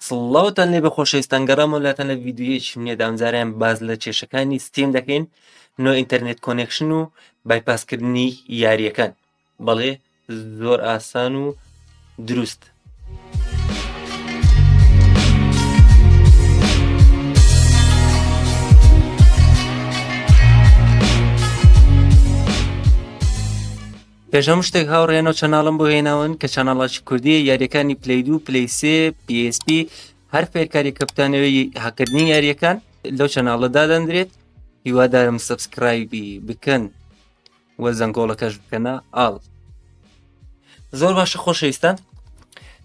سڵاوتان لێبێ خۆشەویستان گەڕامەوە لاتان لە ڤیدیۆیەکی نوێدا ئەمجارەیان باس لە کێشەکانی ستیم دەکەین نۆ ئینتەرنێت کۆنێکشن و بایپاسکردنی یاریەکان بەڵێ زۆر ئاسان و دروست پێش هەموو شتێک هاوڕێیانەوە چەناڵم بۆ هێناون کە چەناڵاچی کوردیە یاریەکانی پلی دو پلی سێ PSP هەر فێرکاری کەپتانەوەی هەکردنی یاریەکان لەو چەناڵە دادەندرێت هیوادارم سبسکرایبی بکەن وە زەنگۆڵەکەش بکەنە ئاڵ زۆر باشە خۆشەویستان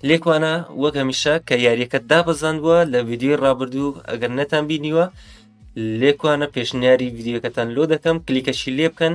لێکوانە وەک هەمیشە کە یاریەکە دابەزاندووە لە ویددیوی ڕابردوو ئەگەر نەتان بینیوە لێکوانە پێشنیاری ویددیوەکەتان لۆ دەکەم کلیکەشی لێ بکەن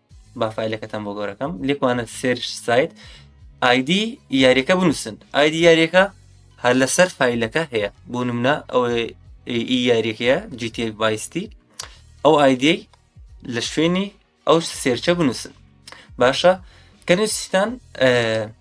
با فیلەکەتان بۆ گەورەکەم لێکوانە سێرش سایت ئایدی یاریەکە بنووسن ئایدی یاریەکە هەر لەسەر فیلەکە هەیە بۆ نمونە ئەو یاریەکەیە جیتی بایستی ئەو ئایدی لە شوێنی ئەو سێرچە بنووسن باشە کەنووسستان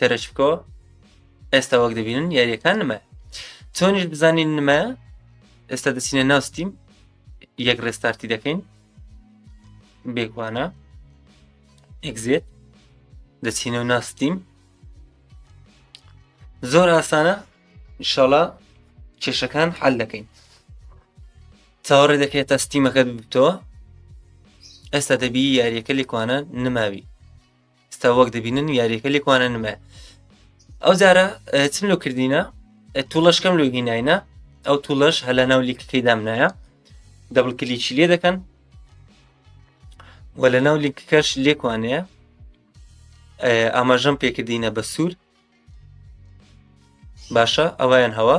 تەرەشکۆ ئێستا وەک دەبینن یاریەکان نمە چۆنیش بزانین نمە ئێستا دەچینە ناوستیم یەک ڕێستارتی دەکەین بێگوانە ئەگزێت دەچینە و ناستیم زۆر ئاسانە شڵە کێشەکان حل دەکەین چاوەڕێ دەکرێت تا ستیمەکەت ببتەوە ئێستا دەبی یاریەکە لێکوانە نماوی ستا وەک دەبینن یاریەکە لێکوانە نمە ئەو جارە چم لۆ کردینە توڵەشکەم لۆ هینایە ئەو توڵەش هەلا ناو لیکەکەی دامنایە دەبڵ کلیچی لێ دەکەن و لە ناو لیکەکەش لێکوانەیە ئاماژەم پێکردینە بە سوور باشە ئەویان هەوە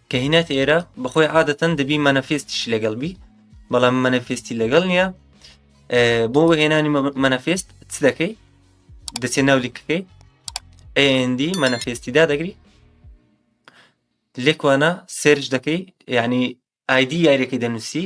کە هینات ئێرە بەخۆی عادەتەن دەبی مەنەفێستیش لەگەڵ بی بەڵام مەنەفێستی لەگەڵ نییە بۆ هێنانی مەنەفێست چ دەکەی دەچێت ناو لیکەکەی ئەندی مەنەفێستی دادەگری لێکوانە سێرش دەکەی یعنی ئایدی یاریەکەی دەنووسی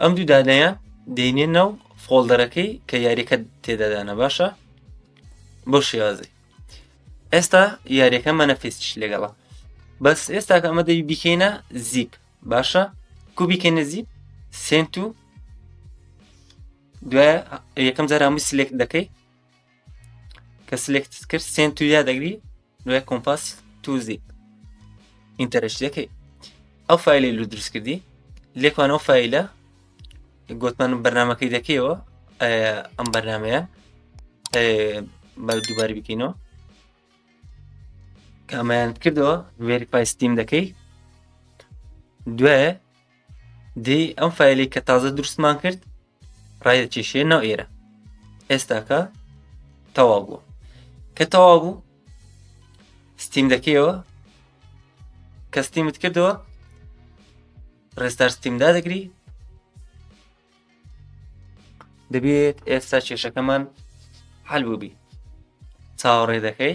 ئەم دوو دانەیە دێنێ ناو فۆڵدەرەکەی کە یاریەکە تێدادانە باشە بۆ شێوازی ئێستا یاریەکە مەنەفیستش لەگەڵە بەس ئێستا کە ئەمە دەوی بیکەینە زیپ باشە کو بیکەینە زیپ سنت و دوای یەکەم جارامی سلێک دەکەی کە سلێکت کرد سنت و یا دەگری نوێ کۆمپاس توزیک ئینتەرش لەکەی ئەو فیلی لو دروست کردی لێکمان ئەو فیلە گوتمان بەرنمەکەی دەکەیەوە ئەم بەرنمەیە بە دووباری بکەینەوە کامیان کردەوە وێری پایستیم دەکەی دوێ دی ئەم فیلی کە تازە دروستمان کرد ڕایدەکێشێ ناو ئێرە ئێستاکە تەوا بووە کە تەوا بوو ستیم دەکەیەوە کە ستیمت کردەوە ڕێستار ستیمدا دەگری دەبێت ئێستا کێشەکەمان حل بووبی چاوەڕێ دەکەی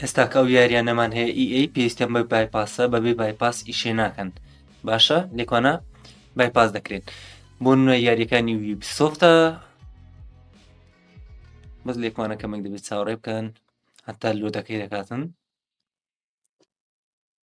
ئێستا کە ئەو یاریانەمان هەیە ئی ئەی پێویستیان بە بایپاسە بەبێ بایپاس ئیشێ ناکەن باشە لێکوانە بایپاس دەکرێت بۆ نوێ یاریەکانی ویبسۆفتە بەس لێکوانە کەمێک دەبێت چاوەڕێ بکەن هەتا لۆ دەکەی دەکاتن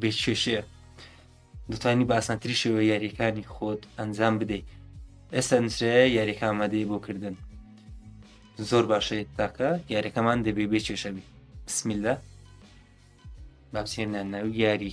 بێ کێشەیە دەتوانی بە ئاسانتری شێوە یاریەکانی خۆت ئەنجام بدەیت ئێستا نووسراە یاریەکە ئامادەی بۆ کردن زۆر باشە تاکە یاریەکەمان دەبێ بێ کێشەبی بسمیلدا بابسیێنە ناو یاری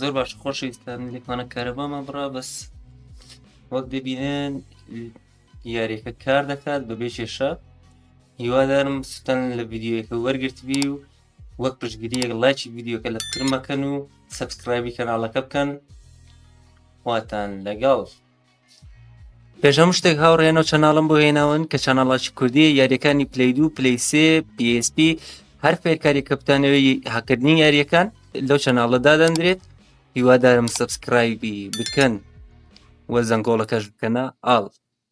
زۆر باش خۆشەویستان لێکمانە کارەبامان بڕا بەس وەک دەبینێن یاریەکە کار دەکات بە بێ کێشە هیوادارم سوتان لە ڤیددیوەکە وەرگرتبی و وەک پشتگیریەک لایکی ڤیددیوکە لە پترمەکەن و سبسکرایبی کەناڵەکە بکەن واتان لەگەڵ پێش هەموو شتێک هاوڕێیانەوە چەناڵم بۆ هێناون کە چەناڵاچی کوردی یاریەکانی پلی دو پلی سێ PSP هەر فێرکاری کەپتانەوەی هەکردنی یاریەکان لەو چەناڵە دادەندرێت هیوادارم سبسکرایبی بکەن وە زەنگۆڵەکەش بکەنە ئاڵ